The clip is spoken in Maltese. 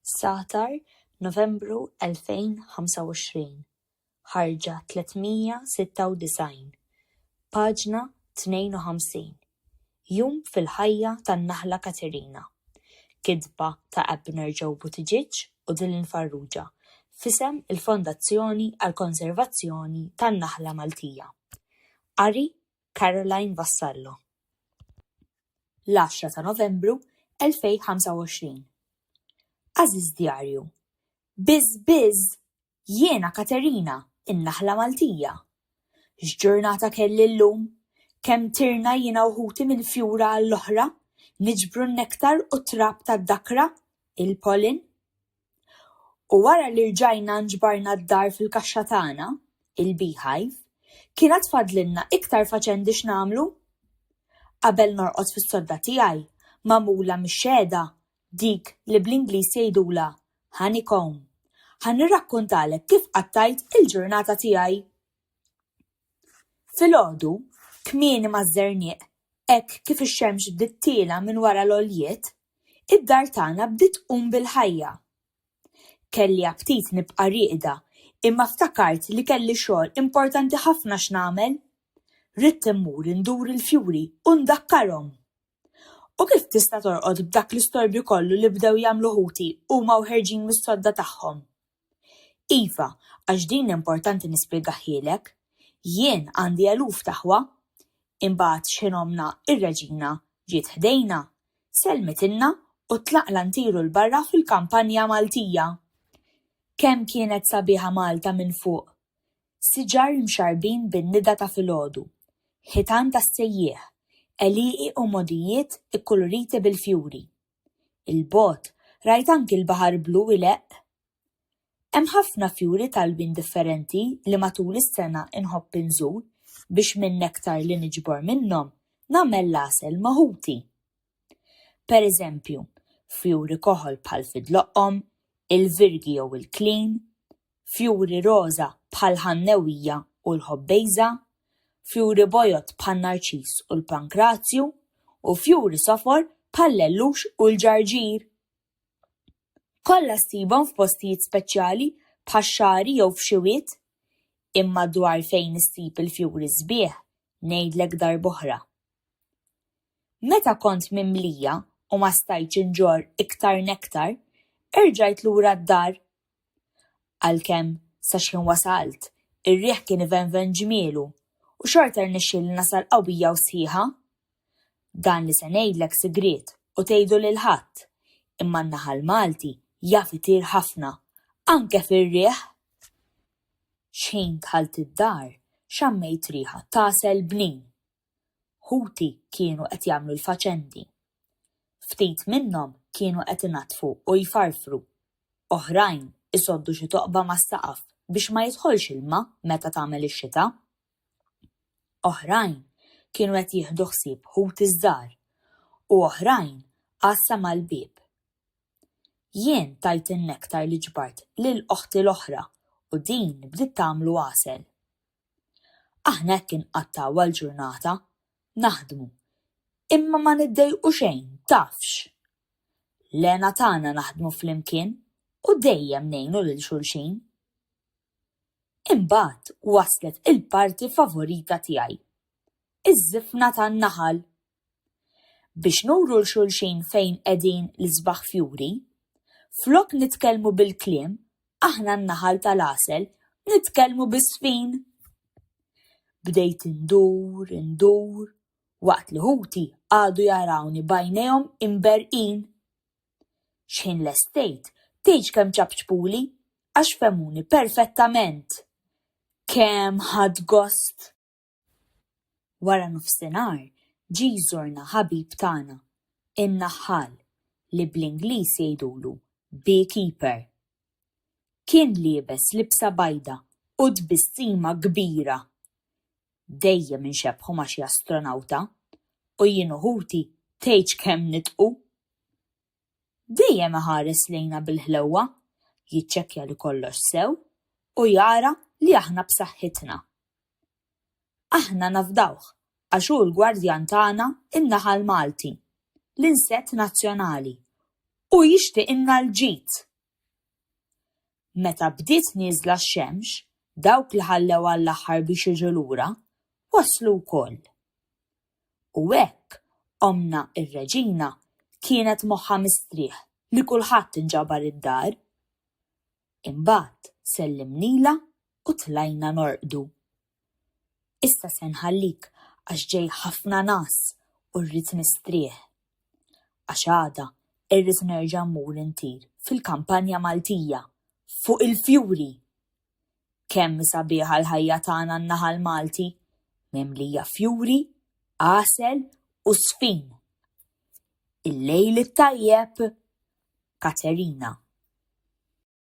Sahtar, Novembru 2025, ħarġa 396, paġna 52, Jum fil-ħajja tan-naħla Katerina, kitba ta' Abner Joe Buttigieg u Dylan Farrugia f'isem il-Fondazzjoni għall-Konservazzjoni tan-Naħla Maltija. Qari Caroline Vassallo L-għaxra ta' Novembru 2025 Għażiż Djarju, Biż biż! Jiena Katerina, in-naħla Maltija! X'ġurnata kelli llum! Kemm tirna jiena u ħuti minn fjura għall-oħra, niġbru n-nektar u t-trab tad-dakra, il-pollen. U wara li rġajna nġbarna d-dar fil-kaxxa tagħna, il-beehive, kien għad fadlilna iktar faċendi x'nagħmlu. Qabel norqod fis-sodda tiegħi, magħmula mix-xehda, dik li bl-Ingliż jgħidulha honeycomb, ħa nirrakkuntalek kif qattajt il-ġurnata tiegħi. Filgħodu, kmieni maż-żernieq, hekk kif ix-xemx bdiet tiela' minn wara l-għoljiet, id-dar tagħna bdiet tqum bil-ħajja. Kelli aptit nibqa' rieqda imma ftakart li kelli xogħol importanti ħafna x'nagħmel. Ridt immur indur il-fjuri u ndakkarhom. U kif tista' torqod b'dak l-istorbju kollu li bdew jagħmlu ħuti huma u ħerġin mis-sodda tagħhom? Iva, għax din importanti nispjegahhielek. Jien għandi eluf t'aħwa. Imbagħad xħin ommna, ir-Reġina, ġiet ħdejna, sellmitilna u tlaqna ntiru 'l barra fil-kampanja Maltija. Kemm kienet sabiħa Malta minn fuq! Siġar imxarrbin bin-nida ta' filgħodu, ħitan tas-sejjieħ, għelieqi u mogħdijiet ikkuluriti bil-fjuri. 'l bogħod rajt anki l-baħar blu ileqq. Hemm ħafna fjuri t'alwin differenti li matul is-sena nħobb inżur biex min-nektar li niġbor minnhom nagħmel l-għasel ma' ħuti. pereżempju, fjuri koħol bħal fidloqqom, il-virgi jew il-klin, fjuri roża bħall-ħannewija u l-ħobbejża, fjuri bojod bħan-narċiż u l-pankrazju, u fjuri sofor bħall-ellux u l-ġarġir. Kollha ssibhom f'postijiet speċjali bħax-xagħri jew f'xi wied. Imma dwar fejn issib il-fjuri sbieħ ngħidlek darb'oħra. Meta kont mimlija u ma stajtx inġorr iktar nektar, erġajt lura d-dar. Għalkemm, sa xħin wasalt, ir-riħ kien ivenven ġmielu u xorta rnexxieli nasal qawwija u sħiħa. Dan li se ngħidlek sigriet u tgħidu lil ħadd, imma n-naħal Malti jaf itir ħafna, anke fir-riħ! Xħin dħalt id-dar, xammejt riħa t'għasel bnin. Ħuti kienu qed jagħmlu l-faċendi. Ftit minnhom kienu qed inaddfu u jfarfru. Oħrajn isoddu xi toqba mas-saqaf biex ma jidħolx ilma meta tagħmel ix-xita. Oħrajn kienu qed jieħdu ħsieb ħuti ż-żgħar u oħrajn għassa mal-bieb. Jien tajt in-nektar li ġbart lil oħti l-oħra u din bdiet tagħmlu għasel. Aħna hekk inqattgħu għall-ġurnata, naħdmu, imma ma niddejqu xejn, tafx! L-hena tagħna naħdmu flimkien u dejjem ngħinu lil xulxin. Imbagħad waslet il-parti favorita tiegħi, iż-żifna tan-naħal! biex nuru 'l xulxin fejn qegħdin l-isbaħ fjuri. Flok nitkellmu bil-kliem, aħna n-naħal tal-għasel, nitkellmu bis-sfin! Bdejt indur, indur, waqt li ħuti qagħdu jarawni b'għajnejhom imberrqin. Xħin lestejt, tgħidx kemm ċapċpuli, għax fehmuni perfettament! Kemm ħadt gost! Wara nofsinhar ġie jżurna ħabib tagħna, in-naħħal, li bl-Ingliż jgħidulu beekeeper. Kien liebes libsa bajda u tbissima kbira. Dejjem inxebbħu ma' xi astronawta u jien u ħuti tgħidx kemm nidħku! dejjem iħares lejna bil-ħlewwa, jiċċekkja li kollox sew u jara li aħna b'saħħitna. Aħna nafdawh għax hu l-gwardjan tagħna n-naħal Malti, l-insett nazzjonali, u jixtiqilna l-ġid! Meta bdiet nieżla x-xemx, dawk li ħallew għall-aħħar biex jiġu lura, waslu wkoll. u hekk ommna r-Reġina kienet moħħha mistrieħ li kulħadd inġabar id-dar. Imbagħad sellimnilha u tlajna norqdu. Issa se nħallik għax ġej ħafna ngħas u rrid nistrieħ. Għax għada irrid nerġa' mmur intir fil-kampanja Maltija, fuq il-fjuri! Kemm hi sabiħa l-ħajja tagħna n-naħa l-Malti, mimlija fjuri, għasel u żfin! Il-lejl it-tajjeb, Katerina.